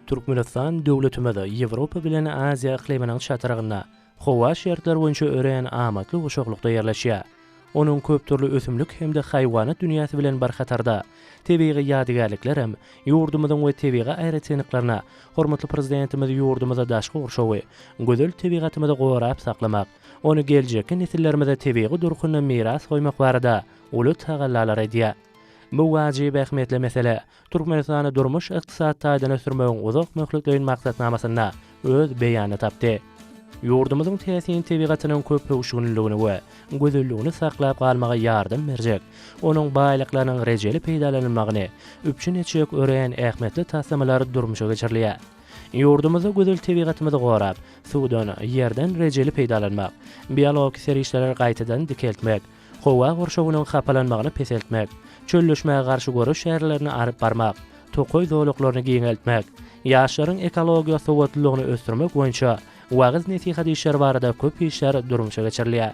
Türkmenistan döwletimiz Ýewropa bilen Aziýa yklymynyň çatrygynda. howa şertleri boýunça örän amatly guşaglykda ýerleşýär. Onuň köpdürli ösümlik hem-de haýwanat dünýäsi bilen bir hatarda, tebigy ýadygärlikler hem ýurdumyzyň we tebigy aýratynlyklaryna hormatly Prezidentimiz ýurdumyzda daşky gurşawy, gözel tebigatymyzy gorap saklamak, ony geljekki nesillerimize tebigy durkunda miras goýmak barada uly tagallalary edýär. Bu wajyp ähmiýetli mesele Türkmenistany durmuş-ykdysady taýdan ösdürmegiň uzak möhletleýin maksatnamasynda öz beýanyny tapdy. Ýurdumyzyň täsin tebigatynyň köpöwüşginliligini we gözelligini saklap galmaga ýardam berjek, onuň baýlyklarynyň rejeli peýdalanylmagyny üpjün etjek örän ähmiýetli taslamalar durmuşa geçirilýär. Ýurdumyzda gözel tebigatymyzy gorap, suwdan, ýerden rejeli peýdalanmak, biologik serişdeleri gaýtadan dikeltmek, Howa gurşawynyň hapalanmagyny peseltmek, çölleşmäge garşy göreş çärelerini alyp barmak, tokaý zolaklaryny giňeltmek, ýaşlaryň ekologiýa sowatlylygyny ösdürmek boýunça wagyz-nesihat işleri barada köp işler durmuşa geçirilýär.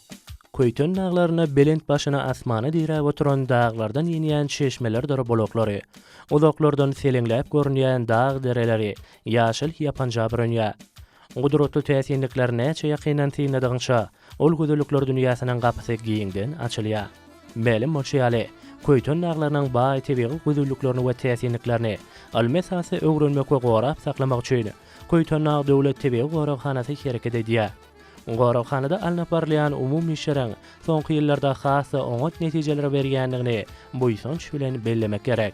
Köýten daglaryna belent başyny asmana diräp oturan daglardan inýän çeşmelerdir bulaklary, uzaklardan seleňläp görünýän dag dereleri ýaşyl ýapanja bürünýär. Gudratly täsinlikleri näçe ýakyndan synladygyňça, ol gözellikler dünýäsiniň gapysy giňden açylýar. Mälim bolşy ýaly, Köýten daglarynyň baý tebigy gözelliklerini we täsinliklerini ylmy esasda öwrenmek we gorap saklamak üçin Köýtendag döwlet tebigy goraghanasy hereket edýär. Goraghanada alnyp barylýan umumy işleriň soňky ýyllarda has-da oňat netijeleri berýändigini buýsanç bilen bellemek gerek.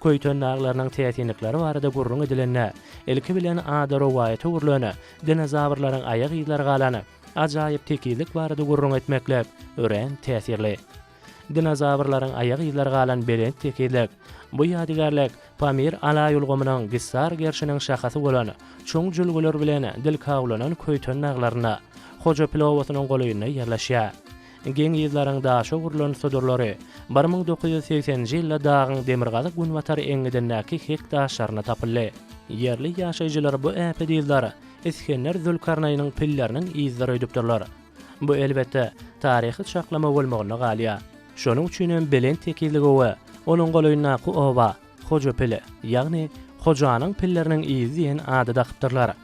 Köýten daglarynyň täsinlikleri barada gürrüň edilende, ilki bilen ady rowaýata öwrülen dinozawrlaryň aýak yzlary galan ajaýyp tekizlik barada gürrüň etmeklik örän täsirli. Dinozawrlaryň aýak yzlary galan belent tekizlik. Bu ýadygärlik Pamir alaý ulgamynyň Gissar gerşiniň şahasy bolan çuň jülgeler bilen dil kawlanan Köýten daglarynda, Hojapil obasynyň golaýynda ýerleşýär. Geň yzlaryň daşa urlan sudurlary bir müň dokuz ýüz segseninji ýylda dagyň demirgazyk-günbatar eňňidindäki hek daşlarynda tapyldy. Ýerli ýaşaýjylar bu äpet yzlary Isgender Zülkarnaýnyň pilleriniň yzlary öýdüpdirler. Bu elbetde, taryhy çaklama bolmagynda galýar. Şonuň üçin hem belent tekizlige we onuň golaýyndaky oba Hojapil, ýagny Hojanyň pilleriniň yzy diýen ady dakypdyrlar.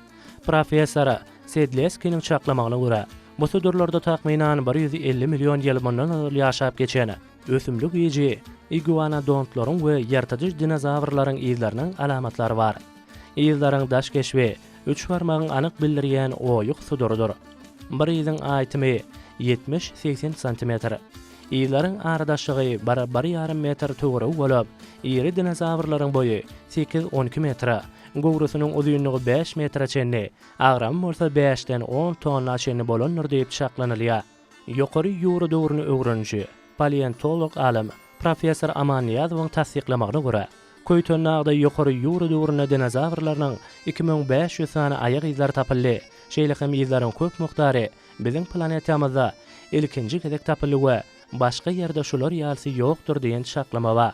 Professor Sedleskiniň çaklamagyna görä, bu sudurlarda takmynan bir ýüz elli million ýyl mundan ozal ýaşap geçen ösümlik iýiji iguanodontlaryň we ýyrtyjy dinozawrlaryň yzlarynyň alamatlary bar. Yzlaryň daş keşbi, üç barmagyň anyk bildirýän oýuk sudurydyr. Bir yzyň aýtymy, ýetmiş-segsen santimetr. Yzlaryň aradaşlygy bir-bir ýarym metr töweregi bolup, iri dinozawrlaryň boýy sekiz-on iki metre, göwresiniň uzynlygy bäş metre çenli, agramy bolsa bäşden on tonna çenli bolandyr diýip çaklanylýar. Ýokary ýura döwrüni öwreniji, paleontolog alym, professor Aman Nyýazowyň tassyklamagyna görä, Köýtendagda ýokary ýura döwründe dinozawrlarynyň iki müň bäş ýüz sany aýak yzlary tapyldy, şeýle hem yzlaryň köp mukdary biziň planetamyzda ilkinji gezek tapyldy we başga ýerde şular ýalysy ýokdur diýen çaklama bar.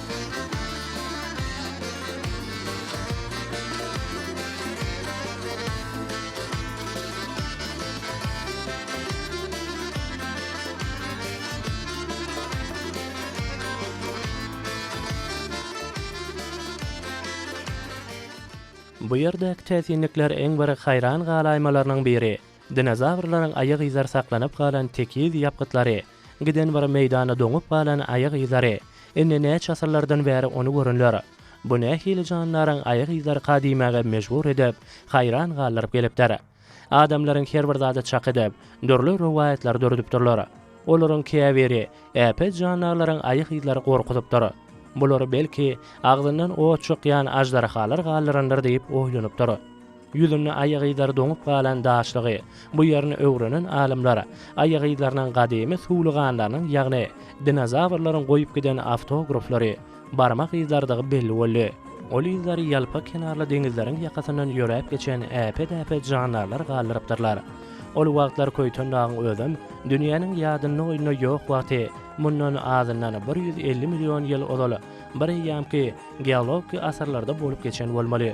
Bu ýerdäki täsinlikler iň bir haýran galaýmalarynyň biri, dinozawrlaryň aýagyzar saklanyp galan tekiz ýapgytlary, Giden bir meýdanda doňup galan aýag yzlary. Indi näçe asyrlardan bäri ony görenler. Bu nähili jandaryň aýag yzlaryka diýmäge mejbur edip, haýran galdyryp gelipdir. Adamlaryň her bir zady çak edip, dürli rowaýatlary döredipdirler. Olaryň käbiri, äpet jandarlaryň aýag yzlary gorkuzypdyr. Bulary belki, agzyndan ot çykýan aždarhalar galdyrandyr diýip oýlanypdyr. Ýüzünde aýagyzlary doňup galan daşlygy, bu ýerini öwrenen alymlar, aýagyzlarynyň gadymy suwluganlarynyň, ýagny dinozawrlaryň goýup giden awtograflary, barmak yzlarydygy belli boldy. Ol yzlary ýalpa kenarly deňizleriň ýakasyndan ýöräp geçen äpet-äpet jandarlar galdyrypdyrlar. Ol wagtlar Köýtendagyň özem dünýäniň ýadynda-oýunda ýok wagty, mundan azyndan bir ýüz elli million ýyl ozal, bir eýýamky geologiki asyrlarda bolup geçen bolmaly.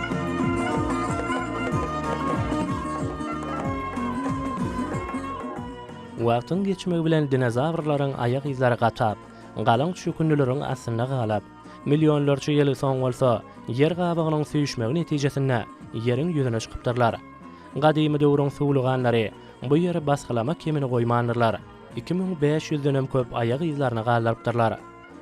Wagtyň geçmegi bilen dinozawrlaryň aýak yzlary gatap, galyň çökündileriň astynda galyp, millionlarça ýyl soň bolsa, ýer gabygynyň süýşmegi netijesinde ýeriň ýüzüne çykypdyrlar. Gadymy döwrüň suwluganlary bu ýeri basgylama kemini goýmandyrlar, iki müň bäş ýüzdenem köp aýak yzlaryny galdyrypdyrlar.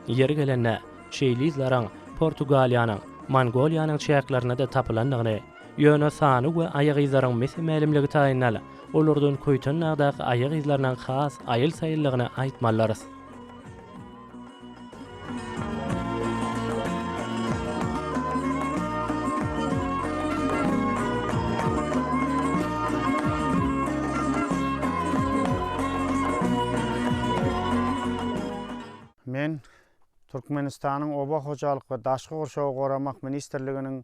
Ýeri gelende, şeýle yzlaryň Portugaliýanyň, Mongoliýanyň çäklerinde-de tapylandygyny, ýöne sany we aýak yzlaryň mese-mälimligi taýyndan, olardan Köýtendagdaky aýak yzlarynyň has aýyl-saýyldygyny aýtmalydyrys. Men Türkmenistanyň Oba hojalyk we daşky gurşawy goramak ministrliginiň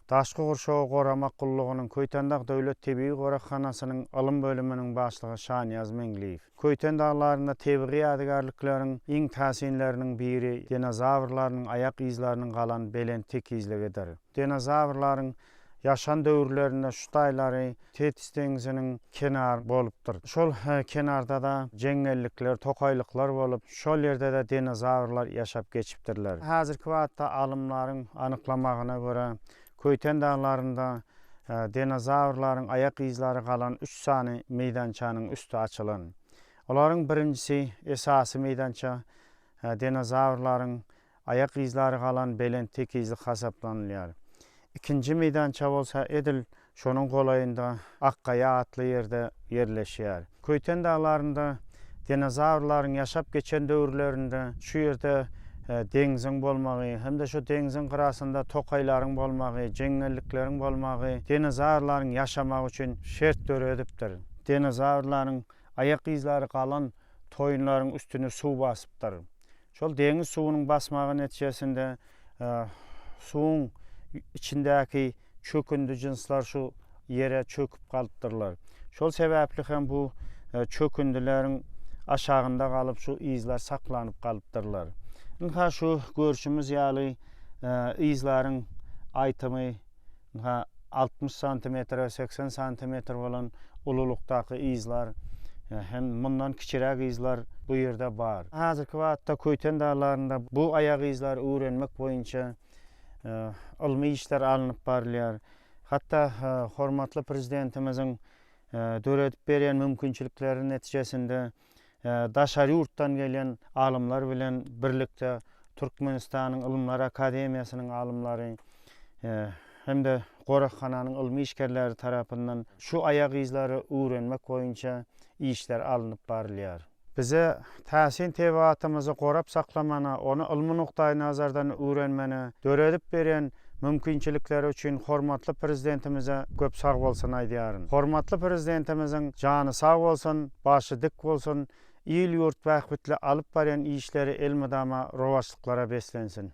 Daşky gurşawy goramak gullugynyň Köýtendag döwlet tebigy goraghanasynyň ylym bölüminiň başlygy Şanyýaz Meňliýew. Köýten daglarynda tebigy ýadygärlikleriň iň täsinleriniň biri dinozawrlaryň aýak yzlarynyň galan belent tekizligidir. Dinozawrlaryň Ýaşan döwürlerinde şu taýlary Tetis deňziniň kenary bolupdyr. Şol kenarda-da jeňňellikler, tokaýlyklar bolup, şol ýerde-de dinozawrlar ýaşap geçipdirler. Häzirki wagtda alymlaryň anyklamagyna görä, Köýten daglarynda dinozawrlaryň aýak yzlary galan üç sany meýdançanyň üsti açylan. Olaryň birinjisi, esasy meýdança, dinozawrlaryň Aýak yzlary galan belent tekizlik hasaplanylýar. Ikinji meýdança bolsa edil şonuň golaýynda Akgaýa atly ýerde ýerleşýär. Köýten daglarynda dinozawrlaryň ýaşap geçen döwürlerinde şu ýerde deňziň bolmagy hem-de şu deňziň gyrasynda tokaýlaryň bolmagy, jeňňellikleriň bolmagy dinozawrlaryň ýaşamagy üçin şert döredipdir. Dinozawrlaryň aýak yzlary galan toýunlaryň üstüni suw basypdyr. Şol deňiz suwunyň basmagy netijesinde suwuň içindäki çökündi jynslar şu ýere çöküp galypdyrlar. Şol sebäpli hem bu çökündileriň aşagynda galyp şu yzlar saklanyp galypdyrlar. Ynha şu görşümiz ýaly yzlaryň aýtymy ynha, altmyş santimetre, segsen santimetr bolan ululykdaky yzlar hem mundan kiçiräk yzlar bu ýerde bar. Häzirki wagtda Köýten daglarynda bu aýagyzlary öwrenmek boýunça ylmy işler alnyp barylýar. Hatda hormatly Prezidentimiziň döredip berýän mümkinçilikleri netijesinde, daşary ýurtdan gelýän alymlar bilen birlikde Türkmenistanyň Ylymlar akademiýasynyň alymlary hem-de goraghananyň ylmy işgerleri tarapyndan şu aýagyzlary öwrenmek boýunça işler alnyp barylýar. Bize täsin tebigatymyzy gorap saklamana, ony ylmy nukdaýnazardan öwrenmäne döredip berýän mümkinçilikleri üçin hormatly Prezidentimize köp sag bolsun aýdýaryn. Hormatly Prezidentimiziň jany sag bolsun, başy dik bolsun, il-ýurt bähbitli alyp barýan işleri elmydama rowaçlyklara beslensin!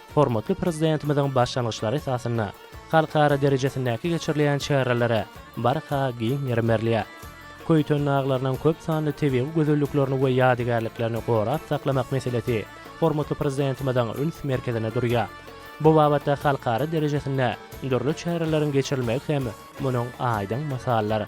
hormatly Prezidentimiziň başlangyçlary esasynda halkara derejesindäki geçirilýän çärelere barha giň ýerim berilýär. Köýten daglarynyň köp sanly tebigy gözelliklerini we ýadygärliklerini gorap saklamak meselesi hormatly Prezidentimiziň üns merkezinde durýar. Bu babatda halkara derejesinde dürli çäreleriň geçirilmegi hem munuň aýdyň mysalydyr.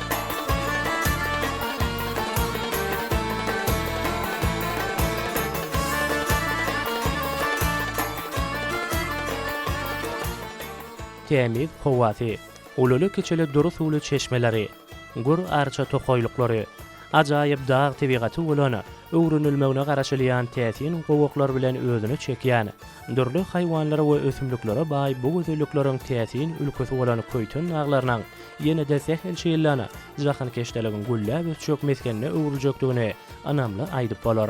Tämiz howasy, ululy-kiçili dury suwly çeşmeleri, gür arça tokaýlyklary, ajaýyp dag tebigaty bolan öwrenilmegine garaşylýan täsin gowaklar bilen özüne çekýän Dürli haýwanlara we ösümliklere baý bu gözellikleriň täsin ülkesi bolan Köýten daglarynyň ýene-de sähel şeýle jahankeşdeligiň gülläp ösjek mesgenine öwrüljekdigini ynamly aýdyp bolar.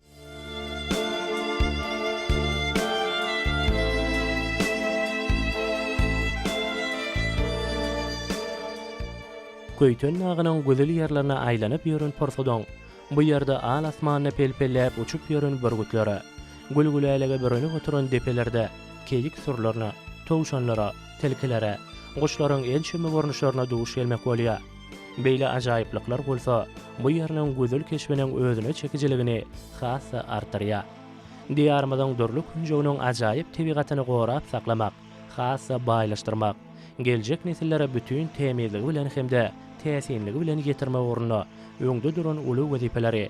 Köýten dagynyň güzül ýerlerine aýlanyp ýören pursadyň, Bu ýerde al asmanda pel-pelläp uçup ýören bürgütlere, gül-gülälege bürenip oturan depelerde keýik sürülerine, towşanlara, tilkilere, guşlaryň ençeme görnüşlerine duş gelmek bolýar. Beýle ajaýyplyklar bolsa bu ýeriniň gözel keşbiniň özüne çekijiligini has-da artdyrýar. Diýarymyzyň dürli künjeginiň ajaýyp tebigatyny gorap saklamak, has-da baýlaşdyrmak, geljek nesillere bütin tämizligi bilen hem-de täsinligi bilen ýetirmek ugrunda öňde duran uly wezipeleri